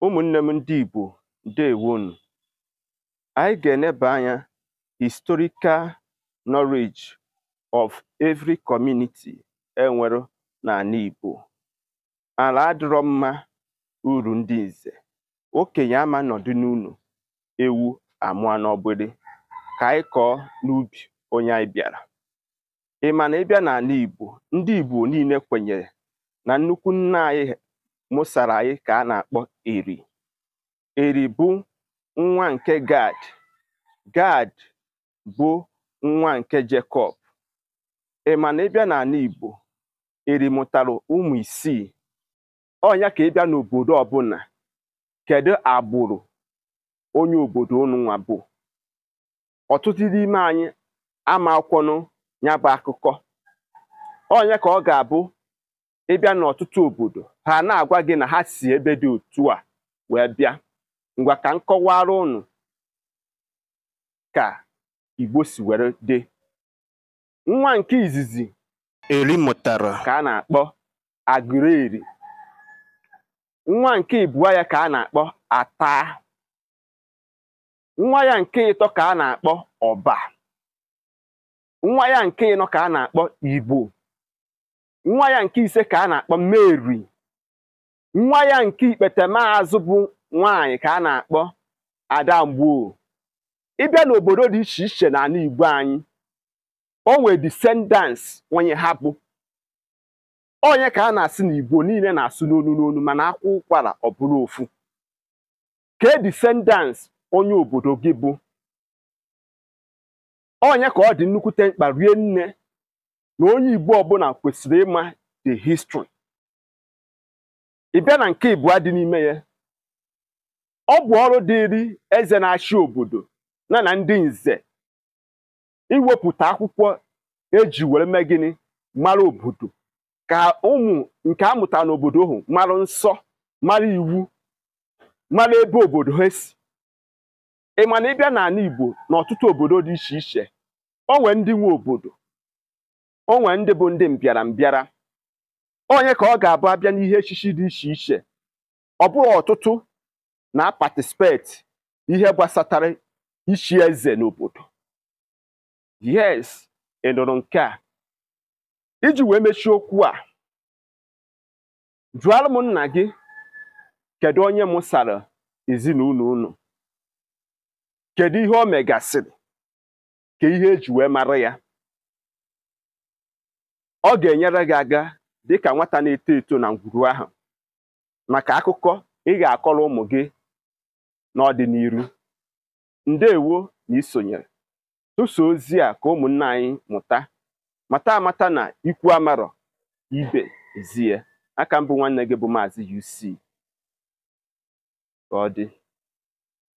ụmụnne m ndị Igbo ndewonu anyị ga-eneba anya historical knowledge of every community enwere n'ana Igbo ala adịrọ mma uru ndị nze okenye ama nọdụ n'ụnọ ewu amụọ n'ọgbịrị ka anyị kọọ n'ubi onye anyị bịara ị ma na ịbịa n'ana Igbo ndị Igbo niile kwenyere na nnukwu nna anyị mụsara anyị ka a na-akpọ Eri Eri bụ nwa nke Gad Gad bụ nwa nke Jekọb ị ma na ịbịa n'ana Igbo Eri mụtara ụmụ isii ọnya ka ịbịa n'obodo ọbụna kedu agbụrụ onye obodo unu nwa bụ ọtụtụ n'ime anyị ama akọnwu ya bụ akụkọ ọnya ka ọ ga-abụ ịbịa n'ọtụtụ obodo ha ana-agwa gị na ha si ebe dị otu a wee bịa ngwa ka m kọwara unu ka igbo si were dị nwa nke izizi eri mụtara ka a na-akpọ agụleri nwa nke ịbụa ya ka a na-akpọ ata nwa ya nke ịtọ ka a na-akpọ ọba nwa ya nke ịnọ ka a na-akpọ igbo nwa ya nke ise ka a na-akpọ meri nwa ya nke ikpete maazụ bụ nwaanyị ka a na-akpọ adamgbo ịbịa n'obodo dị iche iche n'ana igbo anyị o nwere descendants onye ha bụ ọnya ka a na-asị na igbo niile na-asụ n'onu n'onu mana a kwaa ụkwara ọ bụrụ ofu kee descendants onye obodo gị bụ ọnya ka ọ dị nnukwute mkpa rie nne na onye igbo ọbụna kwesịrị ịma the history ị bịa na nke ịbụa dị n'ime ya ọ bụ ọrụ dịịrị eze na-achị obodo na na ndị nze iwepụta akwụkwọ eji were mee gịnị mara obodo ka ụmụ nke a mụtara n'obodo ahụ mara nsọ mara iwu mara ebe obodo ha si ị ma na ịbịa n'ana Igbo n'ọtụtụ obodo dị iche iche o nwee ndị nwe obodo o nwee ndị bụ ndị mbịara mbịara ọnya ka ọ ga-abụ a bịa n'ihe echichi dị iche iche ọ bụrụ ọtụtụ na-aparticipate ihe gbasatara ichi eze n'obodo yes ị nụrụ nke a iji wee mechie okwu a jụọrọ m nna gị kedu onye mụsara ezinụnọ unu kedu ihe o megasịrị kee ihe eji wee mara ya ọ ga-enyere gị aka dịka nwata na-eto eto na ngwuru ahụ maka akụkọ ị ga-akọrọ ụmụ gị n'ọdịnihu ndewo na isonyere tụsa ozi a ka ụmụnna anyị mụta mata amata na ikwu amarọ ibe ezie aka m bụ nwanne gị bụ maazị UC ka ọ dị